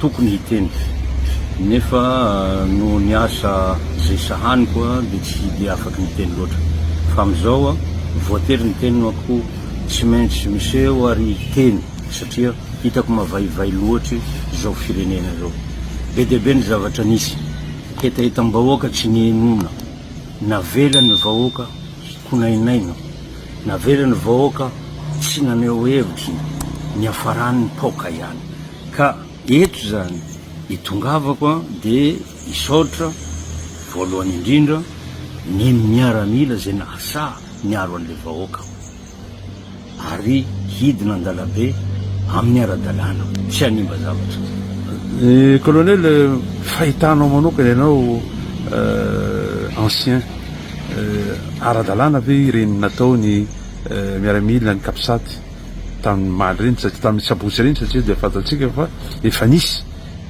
tokony hiteny nefa noho ny asa izay sahaniko dia tsy dia afaky niteny loatra fa amin'izao voatery niteny no ako tsy maintsy miseho ary hiteny satria hitako mavaivay loatry izao firenena izao be dia be ny zavatra nisy hetahetam-bahoaka tsy nihenoina navelan'ny vahoaka hikonainaina navelan'ny vahoaka tsy naneho hevitry ny niafaran'ny paoka ihany Ka eto izany itongavako dia hisaotra voalohany indrindra ny miaramila izay nahasaha niaro an'ilay vahoaka ary hidina an-dalambe amin'ny ara-dalàna, tsy hanimba zavatra. Colonel, fahitanao manokana ianao ancien, ara-dalàna ve ireny nataon'ny miaramila ny Capsat? tamin'ny omaly ireny satria tamin'ny sabotsy ireny satria dia fantatsika fa efa nisy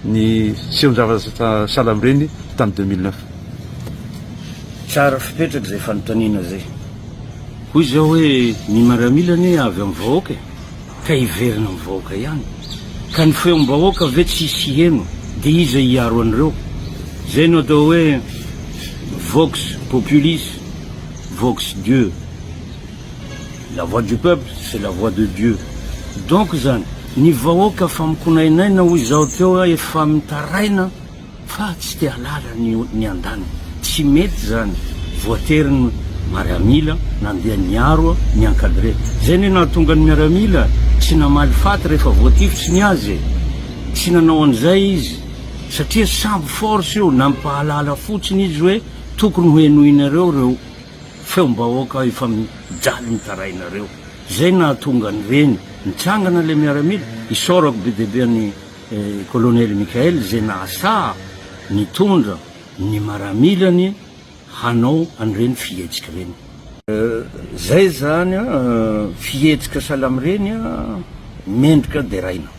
ny sehon-javatra sahala amin'ireny tamin'ny deux mille neuf. Tsara fipetraka izay fanontaniana izay. Hoy izy aho hoe ny maramila anie avy amin'ny vahoaka e! ka hiverina amin'ny vahoaka ihany. Ka ny feom-bahoaka ve tsy hisy hiheno dia iza hiaro an'ireo? Izay no atao hoe vox populis, vox Dieu. La voix du peuple c'est la voix de Dieu donc izany ny vahoaka fa mikonainaina hoy izaho teo a efa mitaraina fa tsy te halala ny ny andaniny tsy mety izany voatery ny mariamila nandeha niaro a ni encadre izay anie nahatonga ny miaramila tsy namaly faty rehefa voatifitsy ny azy e tsy nanao an'izay izy satria sambo force io nampahalala fotsiny izy hoe tokony ho henoinareo ireo Feom-bahoaka efa mijaly mitarainareo. Zay nahatonga ny reny nitsangana le miaramila. Isaorako be dia be an'i Kolonely Mickael zay nahasaha nitondra ny maramilany hanao an'ireny fihetsika ireny. Zay zany a fihetsika salamireny a mendrika deraina.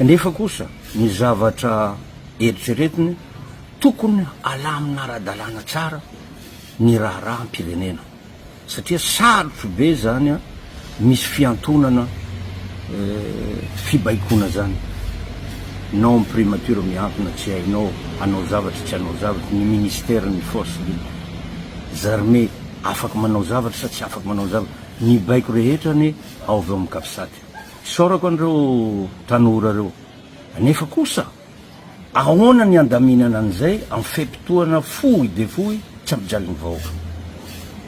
Nefa kosa ny zavatra eritreretiny tokony alamina ara-dalàna tsara. ny raharaham-pirenena satria sarotro be izany an, misy fiantonana fibaikoana izany non primature miantona tsy hainao hanao zavatra tsy hanao zavatra ny ministère ny force des armées afaka manao zavatra sa tsy afaka manao zavatra ny baiko rehetra anie ao avy ao amin'ny capsat isaorako an'ireo tanora ireo anefa kosa Ahoana ny handaminana an'izay amin'ny fe-potoana fohy dia fohy tsy ampijalin'ny vahoaka?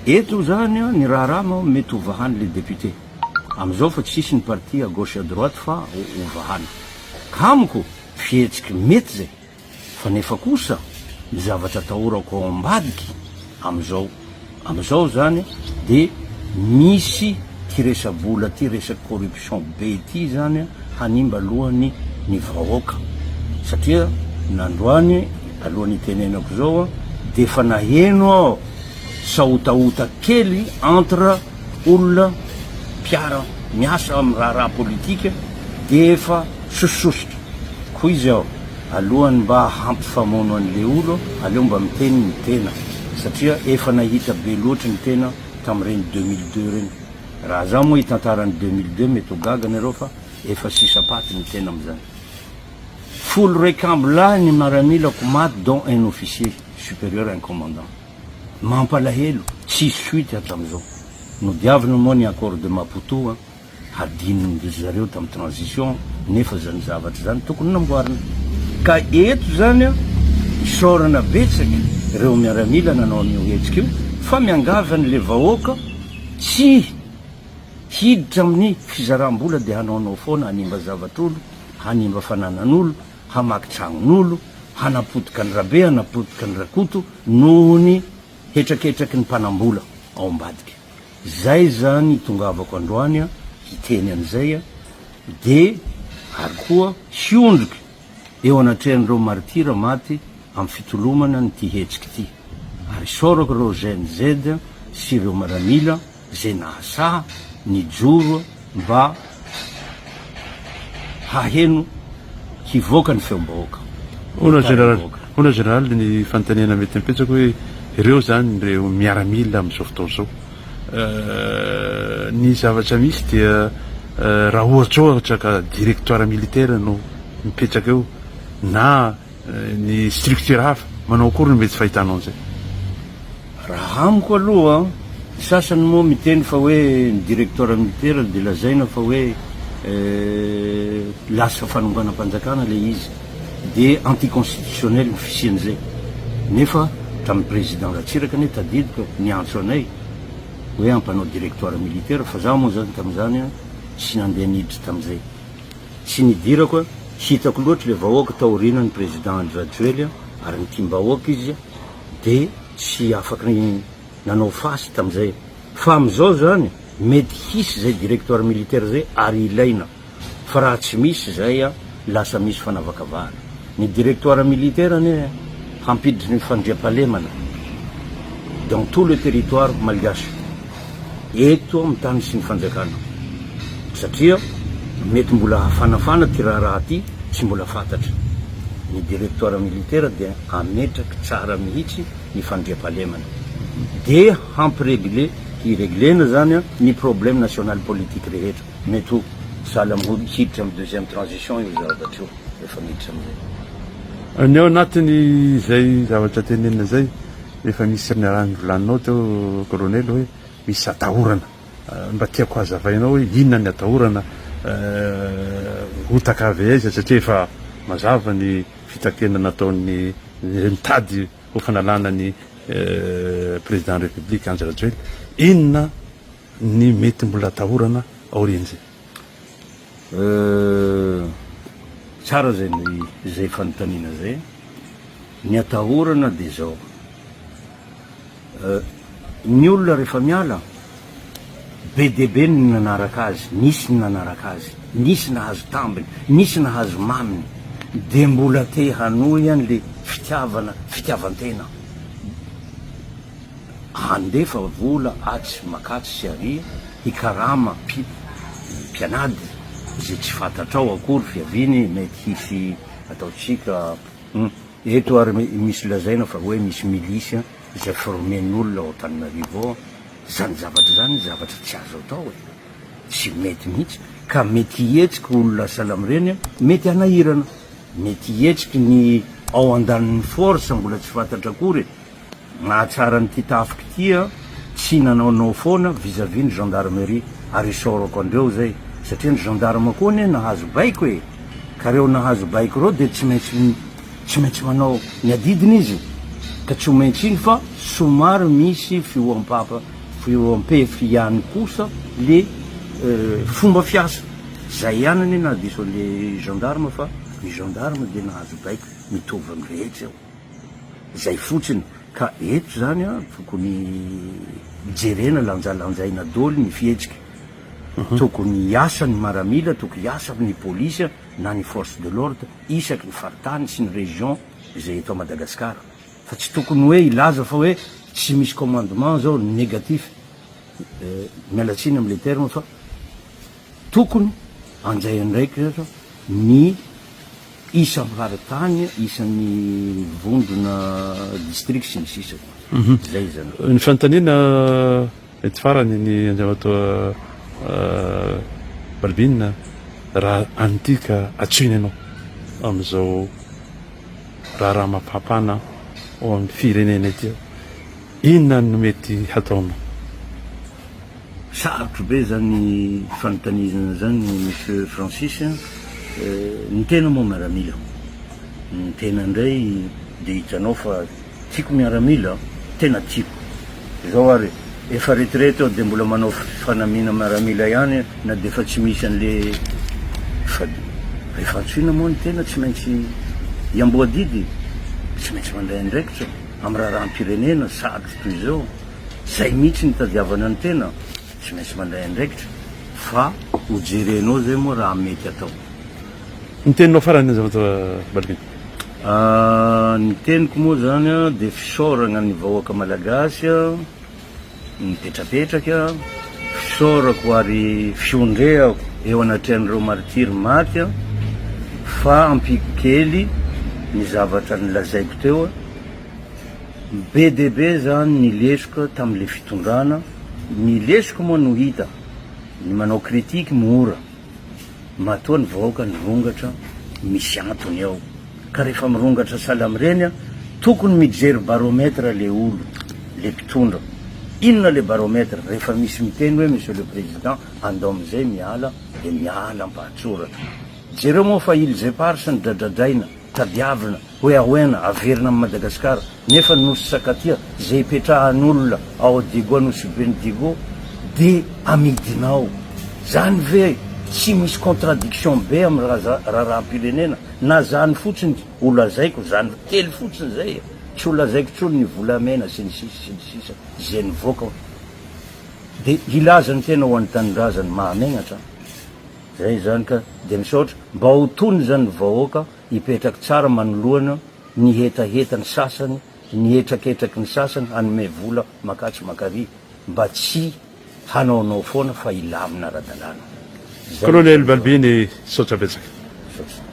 Eto izany ny raharaha moa mety hovahany le député amin'izao fa tsisy ny parti à gauche à droite fa hovahany. Amiko fihetsiky mety izay fa nefa kosa ny zavatra atahorako ao ambadiky amin'izao Amizao izany dia misy ity resa-bola ity, resaka corruption be ity izany hanimba aloha ny ny vahoaka satria nandroany alohan'ny hitenenako izao dia efa naheno aho sahotahota kely entre olona mpiara miasa amin'ny raharaha politika dia efa sosososotra koa izy aho. Alohany mba hampifamono an'le olo aleo mba miteny ny tena satria efa nahita be loatry ny tena tam'ireny deux mille deux reny. Raha za moa hitantara ny deux mille deux mety ho gaga nareo fa efa sisa paty ny tena am'zany. Folo raiky amby lahy ny maramilako maty dont un officier supérieur un commandant. Mampalahelo, tsisy suite hatram'zao. Nodiavina moa ny accord de Maputo an. hadinondry zareo tam transition nefa zany zavatra zany tokony namboarina ka eto zany an isaorana betsaka reo miaramila nanao anio hetsika io fa miangavy any le vahoaka tsy hiditra aminy fizaram bola de hanaonao foana hanimba zavatra olo hanimba fananan olo hamaky tragnon olo hanapotika any rabe hanapotika any rakoto nohony hetraketraky ny mpanam bola ao ambadika Izay izany itongavako androany an hiteny an'izay an, dia ary koa hiondrika eo anatrehan'ireo martira maty amin'ny fitolomana an'ity hetsika ity, ary isaorako ireo GNZ sy ireo maramila izay nahasaha nijoro mba haheno hivoaka ny feom-bahoaka. Hono Général, hono Général ny fanontaniana mety ampetsako hoe ireo zany ireo miaramila amin'izao fotoana izao ny zavatra misy dia raha ohatra ohatra ka directoire militaire no mipetraka eo na ny structure hafa, manao akory no mety tsy fahitanao an'izay? Raha amiko aloha, ny sasany moa miteny fa hoe ny directoire militaire dia lazaina fa hoe lasa fanonganam-panjakana ilay izy dia anti constitutionnel ny fisian'izay nefa hatramin'ny président Ratsiraka anie tadidiko e, niantso anay hoe hampanao directoire militaire fa za moa zany tamin'izany tsy nandeha niditra tamin'izay. Tsy nidirako a! Hitako loatra le vahoaka taoriana ny président Andry Rajoely a! Ary nitiam-bahoaka izy de tsy afaka nanao face tamzay. Fa amzao zany mety hisy zay directoire militaire zay ary ilaina. Fa raha tsy misy zay a lasa misy fanavakavahana. Ny directoire militaire anie hampiditra ny fandriampahalemana dans tout le territoire malgache, eto amin'ny tany sy ny fanjakana, satria mety mbola hafanafana ity raharaha ity tsy mbola fantatra. Ny directoire militaire dia hametraky tsara mihitsy ny fandriampahalemana, dia hampiregle, hireglena zany ny problème national politique rehetra. Mety ho sahala amin'ny hiditra amin'ny deuxième transition io zavatra io. rehefa miditra amin'izay. Ny ao anatin'izay zavatra tenenina izay, efa misy ny raha nivolaninao teo Kolonely hoe misy atahorana. Mba tiako hazavainao hoe inona ny atahorana, hotaka avy aiza satria efa mazava ny fitakiana nataon'ny izay mitady ho fanalana ny Président République Andry Rajoelina. Inona ny mety mbola atahorana aorian'izay? Euh. Tsara zay zay fanontaniana zay. Ny atahorana dia zao. Euh. Ny olona rehefa miala, be dia be ny nanaraka azy, nisy ny nanaraka azy, nisy nahazo tambiny, nisy nahazo maminy, dia mbola te hanohy an'le fitiavana, fitiavan-tena. handefa vola atsy makatsy sy aria hikarama pi mpianady izay tsy fantatrao akory fiaviany mety hisy ataontsika hum eto ary misy lazaina fa hoe misy milice izay formen'olona ao Antananarivo ao zany zavatra zany zavatra tsy azo atao e tsy mety mihitsy ka mety hihetsiky olona salam reny mety hanahirana mety hihetsiky ny ao andanin'ny force mbola tsy fantatra akory e. Mahatsara an'ity tafiko ity an! Tsy nanao no foana vis à vis ny gendarmerie ary isaorako andreo zay satria ny gendarme koa anie nahazo baiko e! Ka reo nahazo baiko reo dia tsy maintsy tsy maintsy manao ny adidiny izy ka tsy ho maintsy iny fa somary misy fihoampapa fihoampefy ihany kosa le fomba fiasa zay ihany anie nahadiso an'le gendarme fa ny gendarme dia nahazo baiko mitovy amin'ny rehetra eo. Izay fotsiny. Ka eto izany an, tokony jerena lanjalanjaina doly ny fihetsika. Tokony hiasa ny maramila, tokony hiasa ny polisy an, na ny force de l'ordre isaky ny faritany sy ny région izay eto Madagascar. Fa tsy tokony hoe hilaza fa hoe tsy misy commandement izao, négatif. Miala tsiny amin'ilay terme fa tokony hanjay andraikitra ny. Isa mpivaratany, isan'ny vondrona, district, sy ny sisa koa. Izay izany. Ny fanontaniana mety farany ny Andriamatoa Balbine raha an'ity ka antsoina ianao amin'izao raharaha mampafana ao amin'ny firenena ity aho, inona no mety hataonao? Sarotro be zany fanontanizana zany Monsieur Francis a! Ny tena moa miaramila, ny tena ndray dia hitanao fa tiako miaramila a! Tena tiako! Zao ary efa retraite aho dia mbola manao fanamiana miaramila ihany na dia efa tsy misy anle fa rehefa antsoina moa ny tena tsy maintsy hiamboadidy e! Tsy maintsy mandray andraikitra am raharaham-pirenena sarotro toy izao! Zay mihitsy ny tadiavana ny tena tsy maintsy mandray andraikitra fa ho jerenao zay moa raha mety atao. Ny teninao farany azafady fa valibe. Ahh ny teniko moa zany dia fisaoragna ny vahoaka malagasy mipetrapetraka, fisaorako ary fiondrehako eo anatrehan'ireo martiry maty fa ampiako kely ny zavatra nolazaiko teo. Be dia be izany ny lesoka tamin'ilay fitondrana, ny lesoka moa no hita, ny manao critique mora, matoa ny vahoaka nirongatra misy antony ao, ka rehefa mirongatra sahala amin'ireny a, tokony mijery baromètre le olo, le mpitondra, inona le baromètre, rehefa misy miteny hoe monsieur le président andao amin'izay miala dia miala ampahatsoratra, jereo moa fa ils éparses ny dradradraina, Tadiavina hoe Aoena averina amin'i Madagasikara nefa ny nosy Sakatia izay ipetrahan'olona ao Diego Anosiben'i Diego dia amidina ao. Zany ve tsy misy contradiction be amin'ny raharaham-pirenena? Na zany fotsiny ho lazaiko zany kely fotsiny zay e! Tsy ho lazaiko intsony ny volamena sy ny sisa sy ny sisa izay nivoaka dia hilaza ny tena ho an'ny tanindrazany mahamegnatra an! Zay izany ka. Dia misaotra. Mba ho tony izany ny vahoaka hipetraky tsara manoloana ny hetaheta ny sasany, ny hetraketraky ny sasany hanome vola makatsy makary mba tsy hanaonao foana fa hilamina ara-dalàna. Zay no Kolonely tena Balbini, misaotra betsaka. Misaotra.